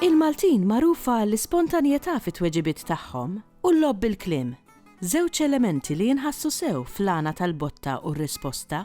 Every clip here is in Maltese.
Il-Maltin magħrufa għall-ispontanjetà fit-tweġibiet tagħhom u l-logħob bil-kliem, żewġ elementi li jinħassu sew fl-għana tal-botta u r-risposta.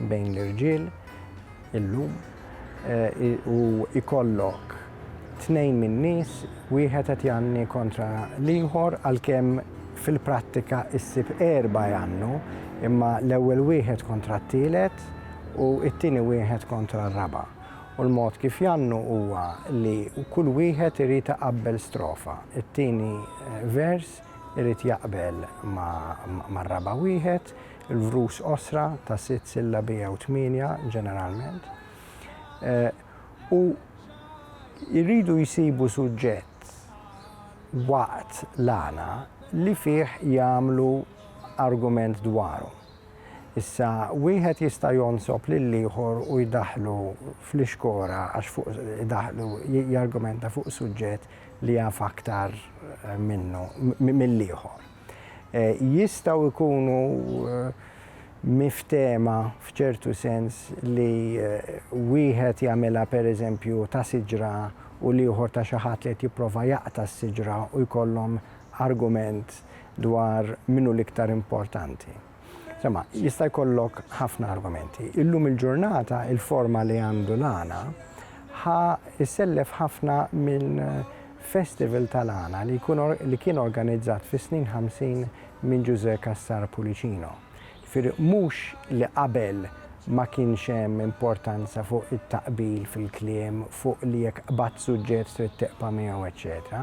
bejn l-irġiel illum u jkollok tnejn min-nies wieħed qed jgħanni kontra l-ieħor għalkemm fil-prattika ssib erbgħa jgħannu imma l-ewwel wieħed kontra t-tielet u t-tieni wieħed kontra r-raba' u l-mod kif jgħannu huwa li kull wieħed irid iqabbel strofa, it-tieni vers irid jaqbel mar-raba' wieħed, il-vrus qosra ta' sitt sillabi jew tmienja ġeneralment, u jridu jsibu suġġett waqt l-għana li fih jagħmlu argument dwaru. Issa, wieħed jista' jonsob lill-ieħor u jdaħħlu fl-ixkora għax fuq idaħħlu jargumenta fuq suġġett li jaf aktar minnu, mill-ieħor. Jistgħu jkunu miftehma f'ċertu sens li wieħed jagħmilha pereżempju ta' siġra u l-ieħor ta' xi ħadd li qed jipprova jaqta' s-siġra u jkollhom argument dwar min hu l-iktar importanti. Sema, jista' jkollok ħafna argumenti. Illum il-ġurnata il-forma li għandu l-għana ħa jsellef ħafna minn festival tal-għana li kien organizzat fis-snin 50 minn Ġużè Cassar Pulicino. Jifieri mhux li qabel ma kienx hemm importanza fuq it-taqbil fil-kliem, fuq li jekk qbadt suġġett trid tiqba' miegħu eċċetera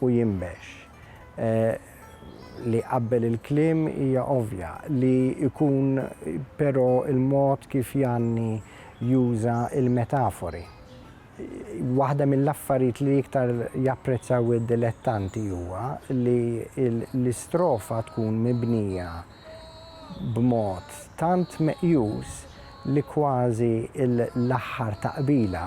u jinbex. Li qabbel il-kliem hija ovvja, li jkun però l-mod kif Janni juża l-metafori. Waħda mill-affarijiet li iktar japprezzaw id-dilettanti huwa li l-istrofa tkun mibnija b'mod tant meqjus li kważi l-aħħar taqbila,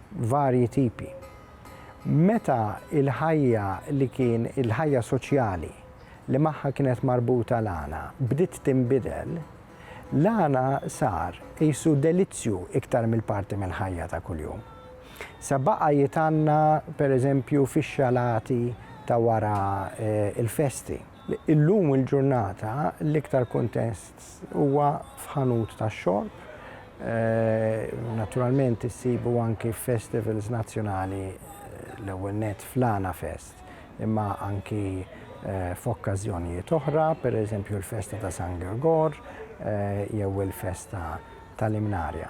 varji tipi. Meta l-ħajja li kien il-ħajja soċjali li magħha kienet marbuta l-għana bdiet tinbidel, l-għana sar qisu delizzju iktar mill parti mill-ħajja ta' kuljum. Sa baqa' jitgħanna pereżempju fix-xalati ta' wara l-festi. Illum il-ġurnata l-iktar kuntest huwa f'ħanut tax-xorb. Naturalment issibu anki f'festivals nazzjonali l-ewwel nett fl-Għana Fest imma anki f'okkażjonijiet oħra, pereżempju l-festa ta' San Girgor jew il-festa tal-Imnarja.